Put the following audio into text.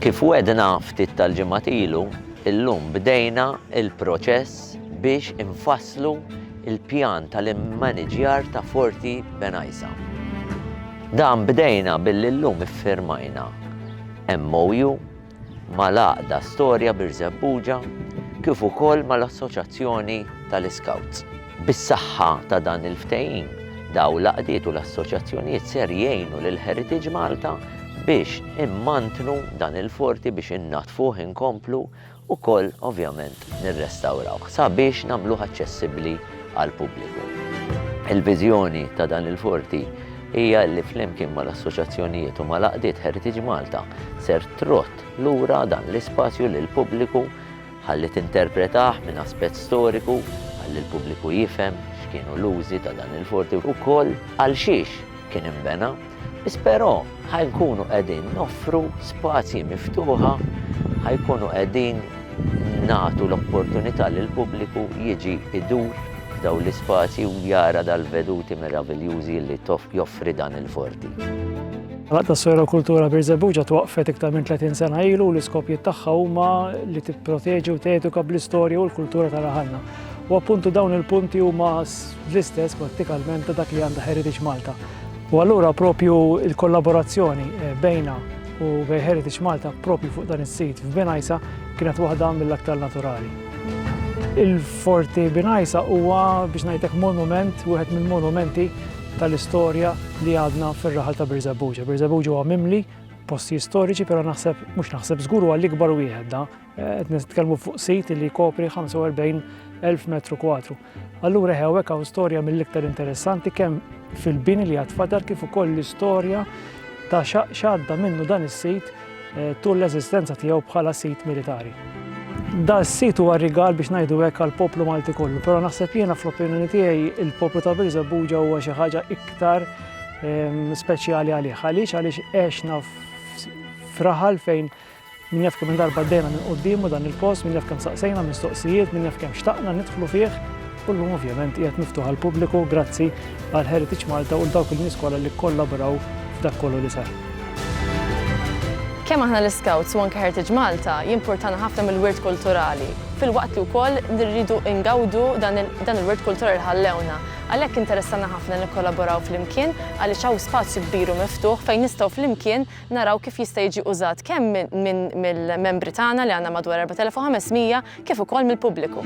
Kif wedna ftit tal-ġimgħat ilu, illum bdejna il-proċess biex infasslu il-pjan tal-immaniġjar ta' Forti Benajsa. Dan bdejna billi llum iffirmajna MOU mal-Għaqda Storja Birżebbuġa kif ukoll mal-Assoċjazzjoni tal-Iskawts. Bis-saħħa ta' dan il-ftehim, dawn l-għaqdiet u l-assoċjazzjonijiet ser jgħinu lil Heritage Malta biex immantnu dan il-forti biex innaddfuh inkomplu ukoll ovvjament nirrestawrawh sabiex nagħmluh aċċessibbli għall-pubbliku. Il-viżjoni ta' dan il-forti hija li flimkien mal-assoċjazzjonijiet u mal-għaqdiet Heritage Malta ser trodd lura dan l-ispazju lill-pubbliku ħalli tinterpretah minn aspett storiku ħalli l-pubbliku jifhem x'kienu l-użi ta' dan il-forti u wkoll għalxiex kien inbena. Biss però ħa nkunu qegħdin noffru spazji miftuħa, ħa jkunu qegħdin nagħtu l-opportunità lill-pubbliku jiġi jdur f'dawn l-ispazji u jara dal-veduti meraviljużi li joffri dan il-forti. L-Għaqda Sojerokultura Birżebbuġ ġat waqfet iktar minn 30 sena ilu u l-iskopjiet tagħha huma li tipproteġi u teduka bl-istorja u l-kultura ta' raħalna. U appuntu dawn il-punti huma l-istess prattikalment ta' dak li għandha Heritage Malta. U allura propju l-kollaborazzjoni bejna u bejn Heritage Malta propju fuq dan is-sit f'Binajsa kienet waħda mill-aktar naturali. Il-Forti Binajsa huwa biex ngħidlek monument, wieħed mill-monumenti tal-istorja li għadna fir-raħal ta' Birżebbuġa. Birżebbuġa huwa mimli postijiet storiċi, però naħseb, mhux naħseb, żgur huwa l-ikbar wieħed da. Qed nitkellmu fuq sit li jkopri 45,000 metru kwadru. Allura eħe hawnhekk hawn storja mill-iktar interessanti kemm fil-bini li għad fadar kif ukoll l-istorja ta' x'għadda minnu dan is-sit eh, tul l-eżistenza tiegħu bħala sit militari. Da s-sit huwa rigal biex ngħidu hekk għal poplu Malti kollu, però naħseb jiena fl-opinjoni tiegħi il-poplu ta' Birza Buġa huwa xi ħaġa iktar ehm, speċjali għalih. Għaliex għaliex għexna fraħal fejn Min jaf kemm-il darba għaddejna minn quddiemu dan il-post, min jaf kemm saqsejna mistoqsijiet, min jaf kemm xtaqna nidħlu fih, u llum ovvjament qiegħed miftuħ għall-pubbliku grazzi għal Heritage Malta u l dawk il-nies kollha li kkollabraw f'dak kollu li sar. Kemm aħna l-Iscouts u anke Heritage Malta jimpurtana ħafna mill-wirt kulturali, filwaqt li wkoll li rridu ngawdu dan il-wirt kulturali li ħallewna. Għalhekk interessana ħafna nikkollaboraw flimkien għaliex hawn spazju kbir u miftuħ fejn nistgħu flimkien naraw kif jista' jiġi użat kemm mill-membri tagħna li għandna madwar 4,500 kif ukoll mill-pubbliku.